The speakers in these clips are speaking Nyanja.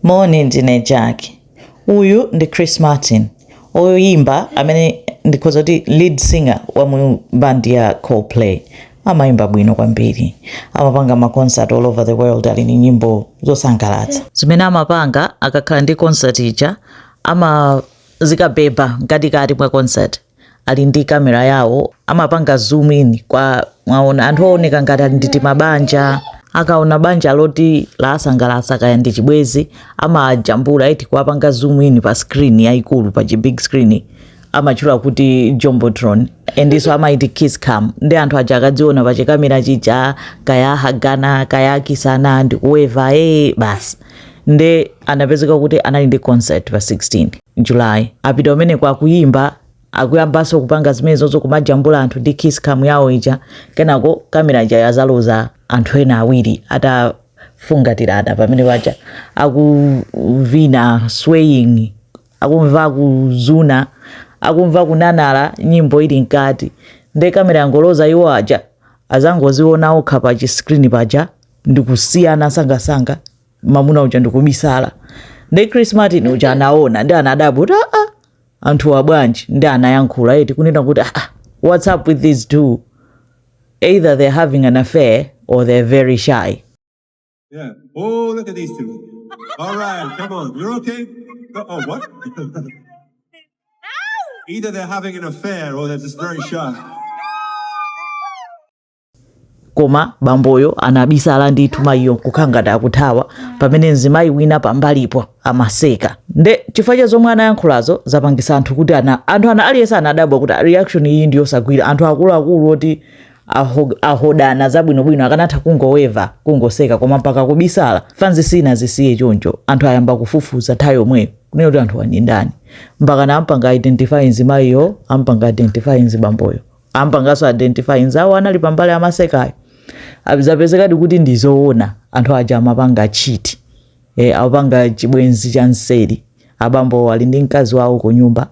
Moni, ndine Jack. Uyu ndi Chris Martin, oyimba amene ndikhoza kuti lead singer wa mu band ya Coldplay. amayimba bwino kwambiri amapanga ma concert all over the world ali ni nyimbo zosangalatsa zimene amapanga akakhala ndi concert ija amazikabeba mkatikati mwa concert ali ndi kamera yawo amapanga zoom in kumaona anthu ooneka ngati ali ndi timabanja akaona banja loti lasangalatsa kaya ndi chibwenzi amajambula eti kuwapanga zoom in pa screen yayikulu pa chi big screen amatchula kuti jumbotron endiso amaiti kiss cam ndi anthu aja akadziona pa chikamera chija kaya hagana kaya kisana ndikuweva ee basi nde anapezeka kuti anali ndi concert pa 16 July atapita kumeneko akuyimba akuyambanso kupanga zimenezozo kumajambula anthu ndi kiss cam yawo ija kenako kamera ija yadzaloza anthu ena awiri atafungatirana pamene paja akuvina swaying akumva kuzuna akumva kunanala nyimbo ili mkati nde kamera yangoloza iwo aja adzangodziona okha pa chiskrini paja ndikusiyana sangasanga mamuna uja ndikubisala nde chris martin uja anaona ndi anadabwa kuti aa anthuwa bwanji ndi anayankhula eti kunena kuti aa what's up with these two either they're having an affair or they're very shy Yeah. Oh, look at these two. All right, come on. You're okay? No- Oh, what? Either they're having an affair or they're just very shy. koma bamboyo anabisala ndithu mayiyo nkukhala ngati akuthawa pamene mzimayi wina pambalipo amaseka nde chifukwa cha zomwe anayankhulazo zapangisa anthu kuti ana anthu ana aliyense anadabwa kuti reaction iyi ndi yosagwira anthu akuluakulu oti aho- ahodana zabwinobwino akanatha kungoweva kungoseka koma mpaka kubisala fanzi sinazisiye choncho anthu ayamba kufufuza nthawi yomweyo kunena kuti anthuwa ndi ndani mpakana ampanga identify mzimayiyo ampanga identify mzibamboyo ampangaso identify nzawo anali pambali amasekayo zapezekadi kuti ndizoona anthu aja amapanga chiti e, eh, apanga chibwenzi cha nseri abamboo ali ndi mkazi wawo ku nyumba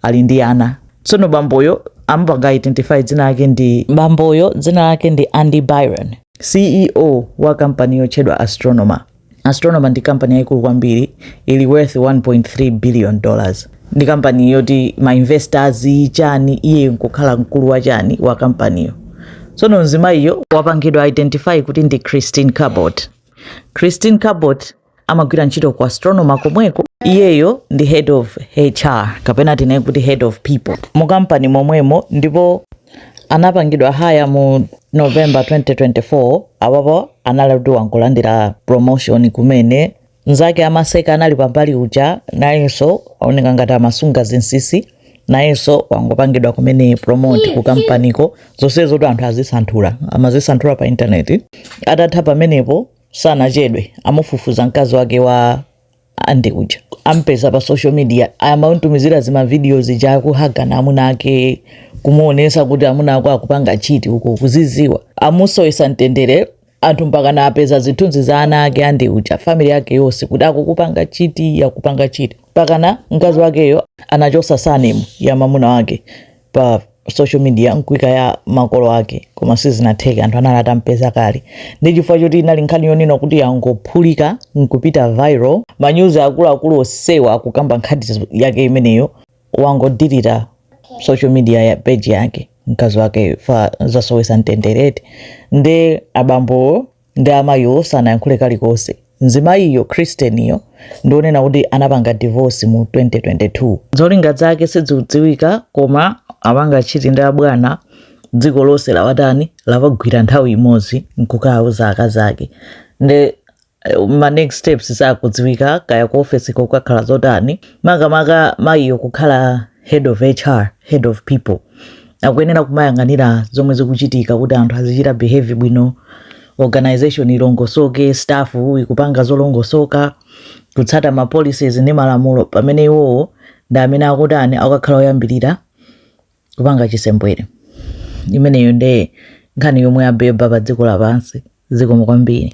ali ndi ana tsono bamboyo ampanga identify dzina lake ndi bamboyo dzina lake ndi andy byron ceo wa kampani yotchedwa astronomer Astronomer ndi kampani yaikulu kwambiri ili worth 1.3 billion dollars ndi kampani yoti ma investors chani iyeyo nkukhala mkulu wa chani wa kampaniyo tsono mzimayiyo wapangidwa identify kuti ndi christine cabot christine cabot amagwira ntchito ku astronomer komweko iyeyo ndi head of hr kapena tinene kuti head of people mu kampani momwemo ndipo anapangidwa hire mu november 2024 apapo analuti wangolandira promotion kumene mzake amaseka anali pambali uja nayenso aoneka ngati amasunga zinsisi nayenso wangopangidwa kumene promote ku kampaniko zonsezotu anthu azisanthula amazisanthula pa intaneti atatha pamenepo sanachedwe amufufuza mkazi wake wa ande uja ampeza pa social media amamutumizira zima video zija akuhagana amuna ake kumuonesa kuti amuna ako akupanga chiti uko kuziziwa amusowetsa mtendere anthu mpakana apeza zithunzi za ana ake Andy uja family yake yonse kuti akukupanga chiti akupanga chiti mpakana mkazi wakeyo anachosa surname ya mamuna wake pa social media nkuika ya makolo ake koma sizinatheke anthu anali atampeza kale ndi chifukwa choti inali nkhani yonena kuti yangophulika nkupita viral manyuzi akuluakulu onsewa akukamba nkhani yake imeneyo wangodilita social media ya page yake mkazi wake fa zasowesa mtenderetu nde abambo ndi amayiwo sanayankhule kalikonse mzimayiyo Kristinyo ndionena kuti anapanga divorce mu 2022 zolinga zake sizidziwika koma apanga chiti ndi abwana dziko lonse lawatani lawagwira nthawi imodzi nkukawauza akazi ake nde eh, ma next steps sakudziwika kaya ku office kukakhala zotani makamaka mayiyo kukhala head of HR, head of people akuyenera kumayang'anira zomwe zikuchitika kuti anthu azichita behave bwino organization ilongosoke staff ikupanga zolongosoka kutsata ma policies ndi malamulo pamene iwowo ndi amene akutani akukhala oyambirira kupanga chisembwere imeneyo nde nkhani yomwe yabeba pa dziko lapansi zikomo kwambiri